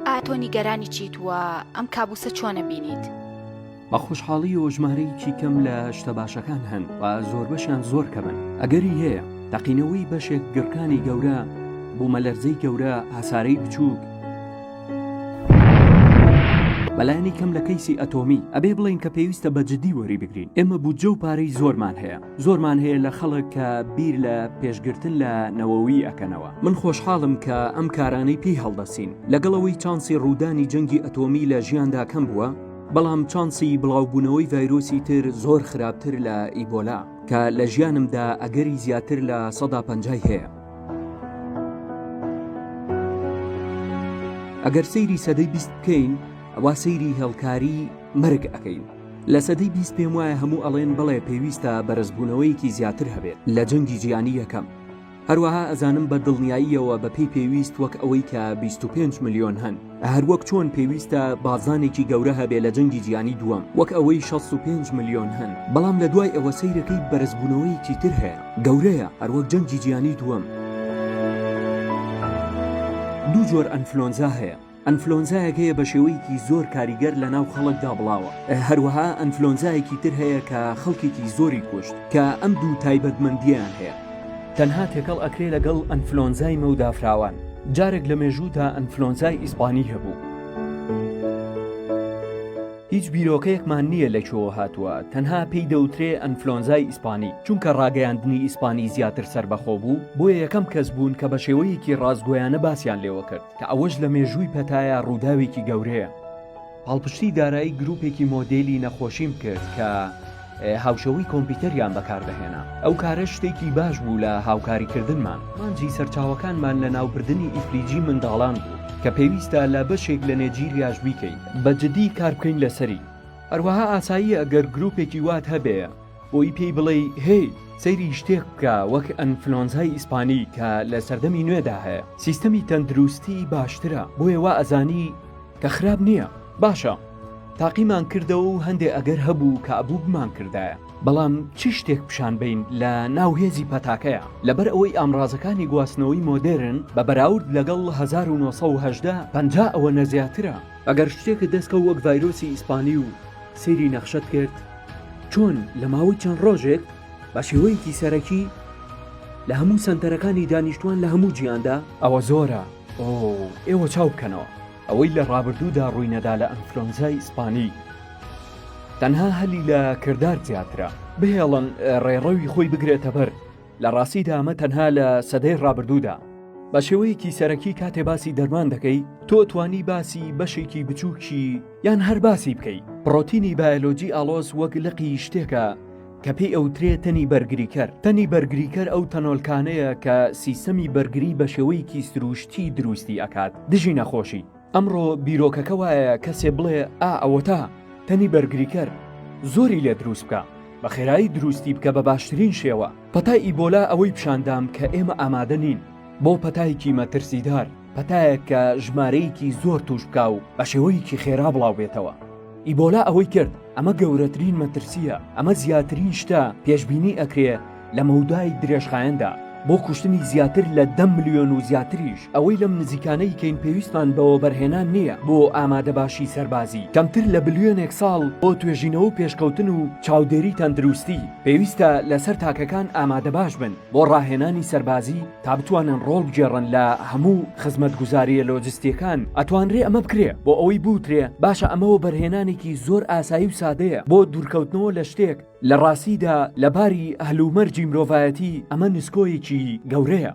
ئایا تۆ نیگەرانی چیت وە ئەم کابوسە چۆنە بینیت؟ بە خۆشحاڵی و ژمارەیەکی کەم لە شتە باشەکان هەن و زۆربەشیان زۆر کەمن ئەگەری هەیە تەقینەوەی بەشێک گڕکانی گەورە بوومەلەرزەی گەورە ئاسارەی بچووک بەلایانی کەم لە کەیسی ئەتۆمی ئەبێ بڵین کە پێویستە بە جددی وەری بگرین ئێمە بودجە و پارەی زۆرمان هەیە زۆرمان هەیە لە خەڵک کە بیر لە پێشگرتن لە نەوەوی ئەکەنەوە من خۆشحاڵم کە ئەم کارانەی پێی هەڵدەسین لەگەڵەوەی چانسی ڕوودانی جەنگی ئەتۆمی لە ژیاندا کەم بووە بەڵام چانسی بڵاوبوونەوەی ڤایرۆسی تر زۆر خراپتر لە ئیبۆلا کە لە ژیانمدا ئەگەری زیاتر لە سەدا پەنجای هەیە ئەگەر سەیری سەدەی بیست بکەین ئەوا سەیری هێڵکاری مەرگ ئەەکەین لە سەدەی بیست پێم وایە هەموو ئەڵێن بەڵێ پێویستە بەرزبوونەوەیەکی زیاتر هەبێت لە جەنگی جیهانی یەکەم هەروەها ئەزانم بە دڵنیاییەوە بە پێی پێویست وەک ئەوەی کە 25 ملیۆن هەن هەروەک چۆن پێویستە بازانێکی گەورە هەبێ لە جەنگی جیهانی دووەم وەک ئەوەی 65 ملیۆن هەن بەڵام لە دوای ئەوە سەیرەکەی بەرزبوونەوەیەکی تر هەیە گەورەیە هەروەک جەنگی جیهانی دووەم دوو جۆر ئەنفلۆنزا هەیە ئەنفلۆنزایەک هەیە بە شێوەیەکی زۆر کاریگەر لە ناو خەڵکدا بڵاوە هەروەها ئەنفلۆنزایەکی تر هەیە کە خەڵکێکی زۆری کوشت کە ئەم دوو تایبەتمەندیان هەیە تەنها تێکەڵ ئەکرێ لەگەڵ ئەنفلۆنزای مەودافراوان جارێک لە مێژوودا ئەنفلۆنزای ئیسپانی هەبوو. هیچ بیرۆکەیەکمان نییە لە کوێوە هاتووە تەنها پێی دەوترێ ئەنفلۆنزای ئیسپانی چونکە ڕاگەیاندنی ئیسپانی زیاتر سەربەخۆ بوو بۆیە یەکەم کەس بوون کە بە شێوەیەکی ڕاستگۆیانە باسییان لێوە کرد کە ئەوەش لە مێژووی پەتایا ڕووداوێکی گەورەیە. پاڵپشتی دارایی گروپێکی مۆدێلی نەخۆشیم کرد کە هاوشێوەی کۆمپیوتەریان بەکاردەهێنا، ئەو کارەش شتێکی باش بوو لە هاوکاریکردنمان. ئامانجی سەرچاوەکانمان لەناوبردنی ئیفلیجی منداڵان بوو، کە پێویستە لە بەشێک لە نێجیریاش بیکەین. بە جددی کاربکەین لەسەری. هەروەها ئاساییە گەر گروپێکی وات هەبێ. بۆی پێی بڵێی هەی سەیری شتێک بکە وەک ئەنفلۆنزای ئیسپانی کە لە سەردەمی نوێدا هەیە سیستەمی تەندروستی باشترە بۆیە وا ئەزانی کە خراپ نییە باشە تاقیمان کردەوە و هەندێ ئەگەر هەبوو کە ئەبوو بمان کردایە بەڵام چ شتێک پیشان بین لە ناو هێزی پەتاکەیە لەبەر ئەوەی ئامرازەکانی گواستنەوەی مۆدێرن بە بەراورد لەگەڵ 1970 پەنجا ئەوە نەزیاترە ئەگەر شتێکت دەستکەوت وەک ڤایرۆسی ئیسپانی و سەیری نەخشەت کرد چۆن لە ماوەی چەند ڕۆژێک بە شێوەیەکی سەرەکی لە هەموو سەنتەرەکانی دانیشتوان لە هەموو جیاندا ئەوە زۆرە ئۆ ئێوە چاو بکەنەوە. ئەوەی لە ڕابردوودا ڕووینەدا لە ئەنفلۆنزای ئیسپانی تەنها هەلی لە کردار زیاترە. بهێڵن ڕێڕەوی خۆی بگرێتەبەر، لە ڕاستیدا ئەمە تەنها لە سەدەی ڕابردوودا. بە شێوەیەکی سەرەکی کاتێ باسی دەرمان دەکەی تۆ توانی باسی بەشێکی بچووکی. یان هەر باسی بکەی پڕۆتینی بایەلۆجی ئاڵۆز وەک لقی شتێکە کە پێی ئەوترێ تەنی بەرگریکەر تەنی بەرگریکەر ئەو تەنۆلکانەیە کە سیستەمی بەرگری بە شێوەیەکی سرووشتی دروستی ئەکات دژی نەخۆشی ئەمڕۆ بیرۆکەکە وایە کەسێ بڵێ ئا ئەوەتا تەنی بەرگریکەر زۆری لێ دروست بکە بە خێرایی دروستی بکە بە باشترین شێوە پەتای ئیبۆلا ئەوەی پیشاندام کە ئێمە ئامادە نین بۆ پەتایەکی مەترسیدار پەتایەک کە ژمارەیەکی زۆر تووش بکا و بە شێوەیەکی خێرا بڵاو بێتەوە. ئیبۆلا ئەوەی کرد، ئەمە گەورەترین مەترسییە، ئەمە زیاترین شتە پێشبینی ئەکرێ لە مەودای درێژخایەندا، بۆ کوشتنی زیاتر لە دە ملیۆن و زیاتریش، ئەوەی لەم نزیکانەی کەین پێویستمان بە وەبەرهێنان نییە بۆ ئامادەباشی سەربازی، کەمتر لە بلیۆنێک ساڵ بۆ توێژینەوە و پێشکەوتن و چاودێری تەندروستی، پێویستە لەسەر تاکەکان ئامادەباش بن بۆ ڕاهێنانی سەربازی، تا بتوانن ڕۆڵ بگێڕن لە هەموو خزمەتگوزارییە لۆجستییەکان، ئەتوانرێ ئەمە بکرێ، بۆ ئەوەی بوترێ باشە ئەمە وەبەرهێنانێکی زۆر ئاسایی و سادەیە بۆ دوورکەوتنەوە لە شتێک، لە ڕاستیدا لە باری هەلومەرجی مرۆڤایەتی ئەمە نسکۆیەکی گەورەیە.